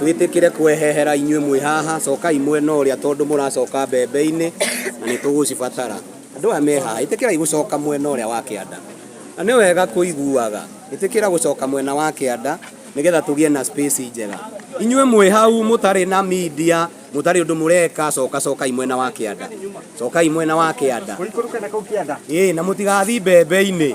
twĩtĩkĩre kwehehera inyuĩ mwĩ haha cokai mwena ũrĩa tondũ mũracoka mbembe-inĩ na nĩ tũgũcibatara andũ aya me haha ĩtĩkĩrai gũcoka mwena ũrĩa wa kĩanda na nĩ wega kũiguaga ĩtĩkĩra gũcoka mwena wa kĩanda nĩgetha tũgĩe na space njega inyuĩ mwĩ hau mũtarĩ na media mũtarĩ ũndũ mũreka coka cokai mwena wa kĩanda cokai mwena wa kĩanda ĩĩ na mũtigathiĩ mbembe-inĩ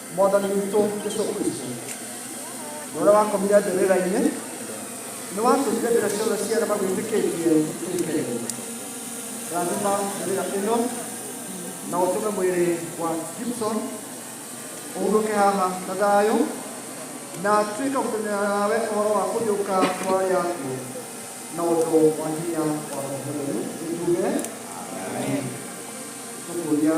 Mwathani witũ Jesũ Kristũ, na ũrĩa wakomire mbĩrĩra-inĩ, nĩ watũmire mbĩrĩra ciothe cia arĩa magwĩtĩkĩtie ituĩke irio. Rathima mbĩrĩra ĩno na ũtũme mwĩrĩ wa Gibson ũhurũke haha na thayũ na atuĩke gũtũmĩra nawe ũhoro wa kũriũka kwa arĩa akuũ na ũndũ wa hinya wa Roho Mũtheru. Nĩtuge tũkũria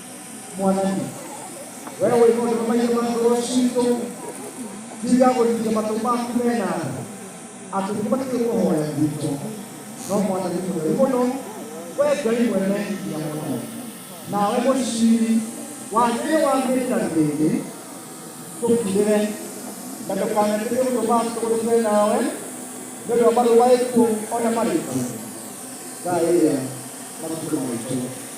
mwanake wewe wĩ mũndũ ũmaiye magũrũ citũ tiga gũthiria matũ maku mena atĩ nĩbatiĩ kũhoya gwitũ no mwanake mũtheri mũno we ngai mwene hinya mũno nawe mũciri wagĩrĩ wa mĩta rĩrĩ tũkirĩre na ndũkanatĩke ũndũ matũgũrĩre nawe nĩ ũndũ wa marũa ĩkuo ona marĩkũ thaĩria matukũ maitũ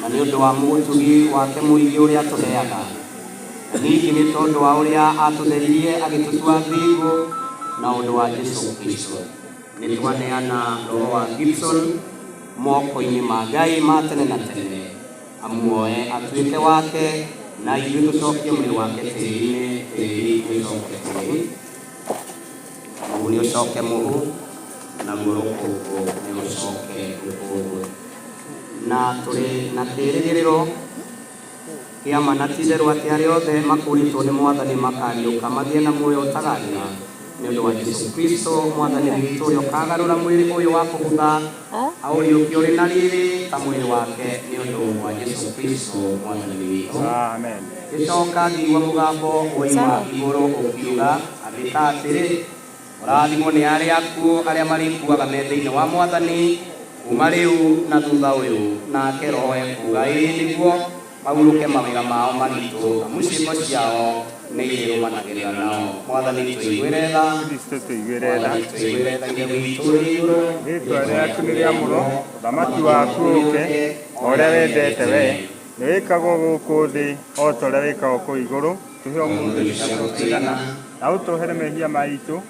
na nĩ ũndũ wa mũgũtũgi wake mũingĩ ũrĩa atũheaga, na ningĩ nĩ tondũ wa ũrĩa atũtheririe agĩtũtua thingo na ũndũ wa Jesu Kristo. Nĩ twaneana roho wa Gibson moko-inĩ ma Ngai ma tene na tene, amuoe atuĩke wake, na ithuĩ tũcokie mwĩrĩ wake tĩri-inĩ, tĩri ũcoke kũrĩ. Mũhu nĩ ũcoke mũhu, naguo rũkũngũ nĩ rũcoke rũkũngũ. Na tũrĩ na kĩĩrĩgĩrĩro kĩa ma na ti itherũ atĩ arĩa othe makũũrĩtwo nĩ Mwathani makaariũka magĩe na muoyo ũtagaathira, nĩ ũndũ wa Jesu Kristo Mwathani witũ, ũrĩa ũkaagarũra mwĩrĩ ũyũ wa kũbutha, aũriũkie ũrĩ na riri ta mwĩrĩ wake nĩ ũndũ wa Jesu Kristo mwathani witũ. Ngĩcoka ngĩigua mũgambo woima igũrũ ũkiuga, Andĩka atĩrĩ, Kũrathimwo nĩ arĩa akuũ arĩa marĩkuaga me thĩinĩ wa Mwathani kuuma rĩu na thutha ũyũ. Nake roho ekuuga, Ĩĩ nĩguo. Mahurũke mawĩra mao maritũ, amu ciĩko ciao nĩ irĩrũmanagĩrĩra nao. Mwathani tũiguĩre tha. Kristo tũiguĩre tha. Mwathani tũiguĩre tha Ithe witũ ũrĩ igũrũ. Rĩĩtwa rĩaku nĩ rĩamũrwo, ũthamaki waku ũũke, o ũrĩa wendete wee, nĩ wĩkagwo gũkũ thĩ o ta ũrĩa wĩkagwo kũu igũrũ. Tũhe ũmũthĩ irio ciitũ cia o mũthenya, na ũtũohere mehia maitũ,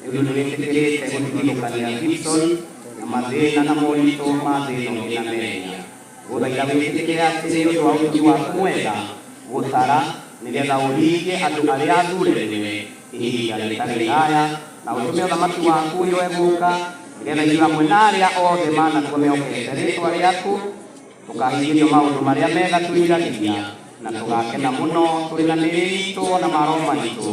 Nĩũndũ nĩwĩtĩkĩrĩte gũtigithũkania Gibson na mathĩna na moritũ ma thĩ ĩno ĩna mehia, ngũthaitha wĩtĩkĩre atĩ nĩ ũndũ wa ũtugi waku mwega gũtara nĩgetha ũhingie andũ arĩa athuure nĩwe ihinda rĩtarĩ iraya, na ũtũme ũthamaki waku ũyũ ũgũũka, nĩgetha ithuĩ hamwe na arĩa othe manakua mehokete rĩĩtwa rĩaku, tũkahingĩrio maũndũ marĩa mega twĩriragĩria, na tũgakena mũno tũrĩ na mĩĩrĩ iitũ o na ma roho maitũ.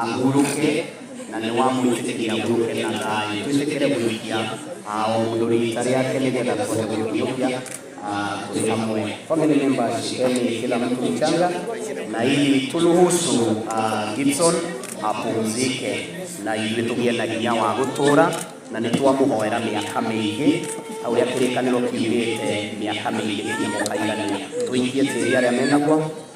Ahurũke, na nĩ wamwĩtĩkĩria ahurũke na thayũ. Twĩtĩkĩre gũikia ah, o mũndũ rita rĩake nĩgetha tũhote gũkinyũkia ah, twĩ hamwe. Family members, shikeni kila mtu mchanga na ili turuhusu ah, Gibson apumzike na ithuĩ tũgĩe na hinya wa gũtũũra na nĩ twamũhoera mĩaka mĩingĩ ta ũrĩa kĩrĩkanĩro kiugĩte mĩaka mĩingĩ kĩmũkaigania tũikie tĩri arĩa menaguo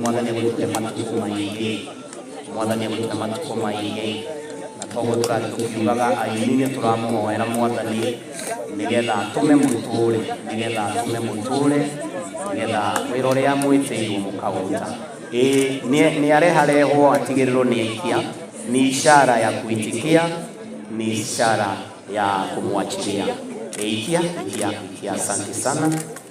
mwathani agwĩkĩte matukũ maingĩ mwathani agwĩkĩte matukũ maingĩ na toguo tũrathiĩ tũkiugaga aini nĩ tũramũhoera mwathani nĩgetha atũme mũtũũre nĩgetha atũme mũtũũre nĩgetha wĩra ũrĩa mwĩtĩirwo mũkaũruta Ĩĩ, nĩ- nĩ areharehwo atigĩrĩrwo nĩ ikia nĩ ishara ya kuitikia ni ishara ya kumwachilia. Eikia, ikia, ikia. Asante sana.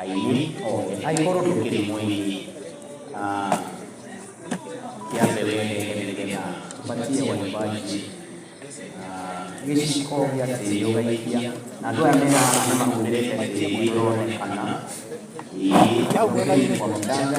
aini othe angĩkorwo ndũkĩrĩ mũini ah, kĩa mbere nĩgetha tũbatie waimbaji ah, gĩciko gĩa tĩri ũgaikia na andũ aya mena nĩ mahũthĩrĩte tĩri ũronekana ĩĩ ũgĩrĩte kwa mũtanga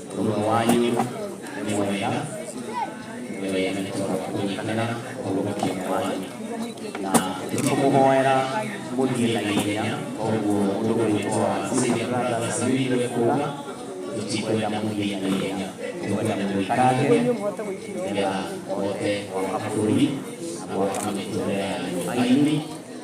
Ũmwe wanyu nĩ mwega, we nĩ tondũ kũnyitanĩra ũhonokio wanyu na nĩtũkũmũhoera mũthiĩ na ihenya koguo ũndũ ũrĩtwo wa Savior Brothers Unity kuuga tũtikwenda mũthiĩ na ihenya tũkwenda mũikange nĩgetha mũhote gwaka bũrũri na gwaka mĩtũrĩre yanyu aini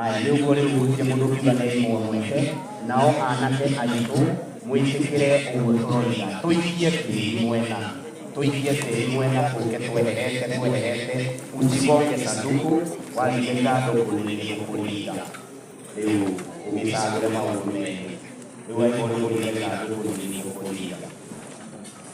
Aya nä å guo rä u gå tirä må ndå tiga nä inyuä mweke, nao anake aitå mwä tä kä re å guo tåroiga, tå ikie tĩri mwena, tå ikie tĩri mwena, tå ke tweherete, tweherete, usigonge sanduku, waringa ithandũkũ nĩ rĩgũkũringa. Rĩu ũgĩcagũre maũndũ merĩ, rĩu aigua nĩ kũringa ithandũkũ nĩ rĩgũkũringa.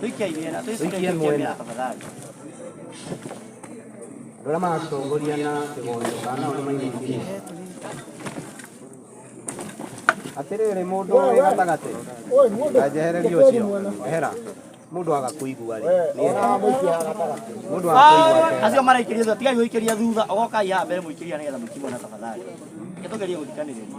Tuikia imera, tuikia Tuikie imera mwena. tafadhali. Rora matongoria na kigondo kana uri maingi. Atiriri mundu uri gatagati. Ajehereria ucio. Ehera. Mundu agakuigua ri. Mundu agakuigua. ri. Acio maraikiria thutha, tigai guikiria thutha, ogokai haha mbere muikiria nigetha muikimwe na tafadhali. Gitugerie guthikaniriria.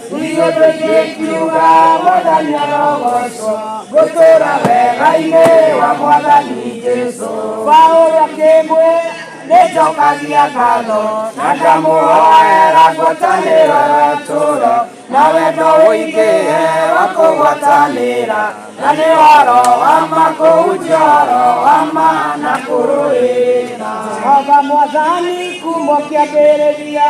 Iyo tũigĩkiuga mwathani arogocwo gũtũra wega-inĩ wa mwathani Jesu. Paulo akĩmwe nĩnjokagia ngatho na ndamũhoera ngwatanĩro ya tũro na wendo ũingĩhe wa kũgwatanĩra na nĩ waro wa makũhunjia ũhoro wa ma na kũrũĩra Jehova mwathani kuuma kĩambĩrĩria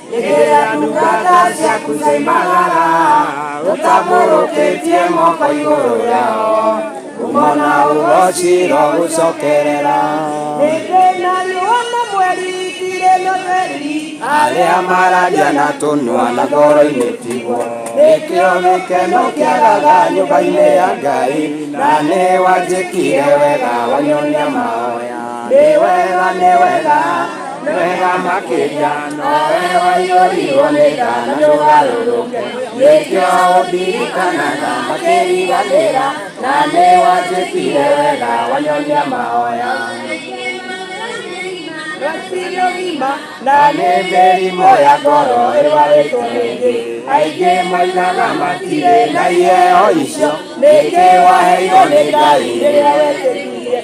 Ĩgĩra ndungata ciaku cioimagara, ũtambũrũkĩtie moko igũrũ rĩao, ngumo na ũgooci rogũcokerera. Hĩndĩ na riũa na mweri itirĩ na theri, arĩa mararia na tũnua na ngoro-inĩ tiguo nĩkĩo gĩkeno kĩagaga nyũmba-inĩ ya ngai na nĩ wanjĩkire wega wanyonia mahoya nĩ wega nĩ wega wega makĩria nowe waiyũrirwo nĩ tha na ndũgarũrũke nĩkĩo ũndirikanaga makĩriganĩra na nĩ wanjĩkire wega wanyonia mahoya na nĩ mĩrimũ ya ngoro ĩrwarĩtwo rĩngĩ aingĩ moigaga matirĩ na iheo icio nĩkĩ waheirwo nĩ ngai rĩrĩa wetĩkirie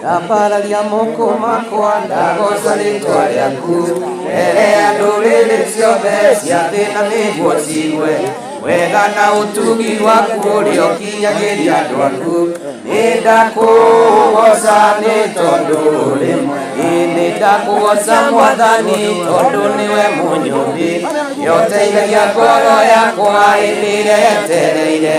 ndambararia moko makwa ndagoca rĩtwa rĩaku mbere ya ndũrĩrĩ ciothe cia thĩ na nĩguo cigue wega na ũtugi waku ũrĩa ũkinyagĩria andũ aku nĩ ndakũgoca nĩ tondũ ũrĩ mwega nĩ ndakũgoca mwathani tondũ nĩwe mũnyũmbi nĩũteithagia ngoro yakwa ĩrĩa yetereire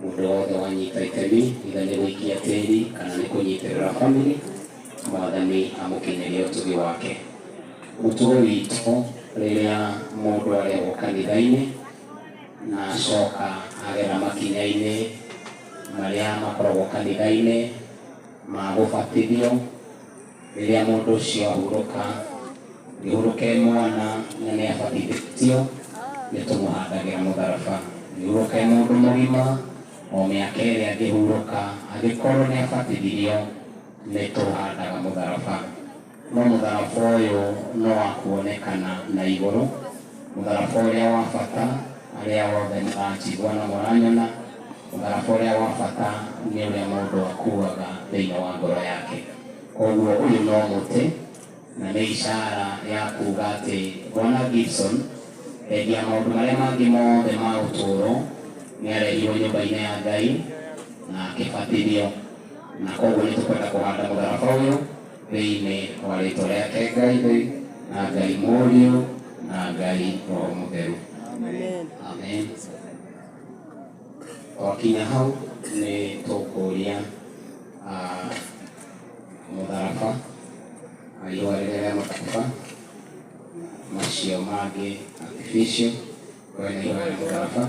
Mũndũ wothe wanyita itemi, either nĩ gũikia tĩri kana nĩ kũnyitĩrĩra family, Mwathani amũkinyĩrie ũtugi wake. Mũtugo witũ rĩrĩa mũndũ arehwo kanitha-inĩ na acoka agera makinya-inĩ marĩa makoragwo kanitha-inĩ ma gũbatithio, Rĩrĩa mũndũ ũcio ahurũka, ngĩhurũkĩre mwana na nĩ abatithĩtio, nĩ tũmũhandagĩra mũtharaba. Ngĩhurũkĩre mũndũ mũgima, o mĩaka ĩrĩa angĩhurũka, angĩkorwo nĩ abatithirio, nĩ tũhandaga mũtharaba. No mũtharaba ũyũ nĩ wa kuonekana na igũrũ, mũtharaba ũrĩa wa bata arĩa othe mũranjigua na mũranyona. Mũtharaba ũrĩa wa bata nĩ ũrĩa mũndũ akuuaga thĩinĩ wa ngoro yake. Kwoguo ũyũ no mũtĩ, na nĩ ishara ya kuuga atĩ Bwana Gibson, thendi ya maũndũ marĩa mangĩ mothe ma ũtũũro, nĩ arehirũo nyũmba-inĩ ya Ngai na akĩbatithio. Na kwoguo nĩ tũkwenda kũhanda mũtharaba ũyũ thĩinĩ wa rĩĩtwa rĩake Ngai Ithe, na Ngai Mũriũ, na Ngai Roho Mũtheru. Amen. Wakinya hau nĩ tũkũria ah, mũtharaba na ihũa rĩrĩa rĩa mũtharaba macio mangĩ artificial kwena ihũa rĩa mũtharaba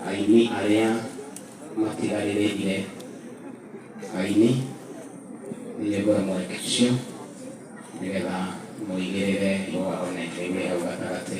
aini arĩa matigarĩrĩire aini nĩ ngũra mweke ũcio nĩgetha mũigĩrĩre ihũa ona ikĩgwĩ hau gatagatĩ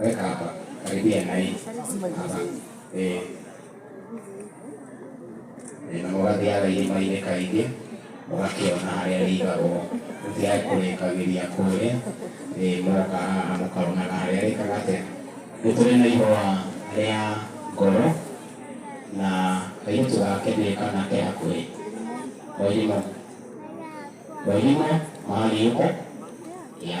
Weka hapa karibia na hii hapa eh na mũgathiaga irima-inĩ kaingĩ mũgakĩona harĩa rĩigagwo rĩtigae kũrĩkagĩria kũrĩa ĩ mũgoka haha mũkaronaga harĩa rĩkaga atĩa nĩ tũrĩ na ihũa rĩa ngoro na kairĩtu gake ndiũĩ kana ke hakuhĩ wairimo wairimo mahali yuko ya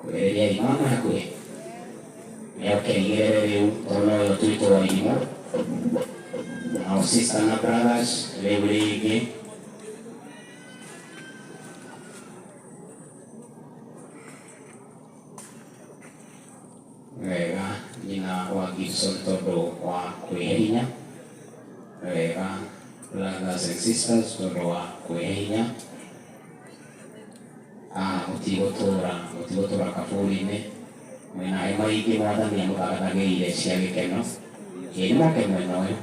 kweheria irimũ na kwe yakeigere rĩu tondũ ũyũ twĩtwo wa irimũ na sister na brothers rĩu rĩngĩ wega nyina wa Gibson tondũ wa kwĩhe hinya wega brothers and sisters tondũ wa kwĩhe hinya Ah, mũtigũtũũra, mũtigũtũũra kaburi-inĩ, mwĩ na hema ingĩ Mwathani amũthagathagĩire cia gĩkeno. Ĩ nĩmoke mwena ũyũ.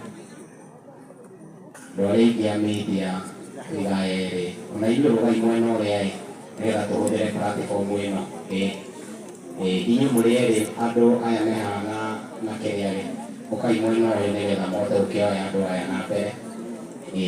Andũ arĩa aingĩ a media tũiga erĩ, o na ithuĩ rũgai mwena ũrĩa-ĩ, nĩgetha tũhũthĩre platform ĩno. Ĩ, ĩ, inyuĩ mũrĩ erĩ, andũ aya me haha na, na kĩrĩa-rĩ, ũkai mwena ũyũ nĩgetha mũhote gũkĩoya andũ aya na mbere. Ĩ.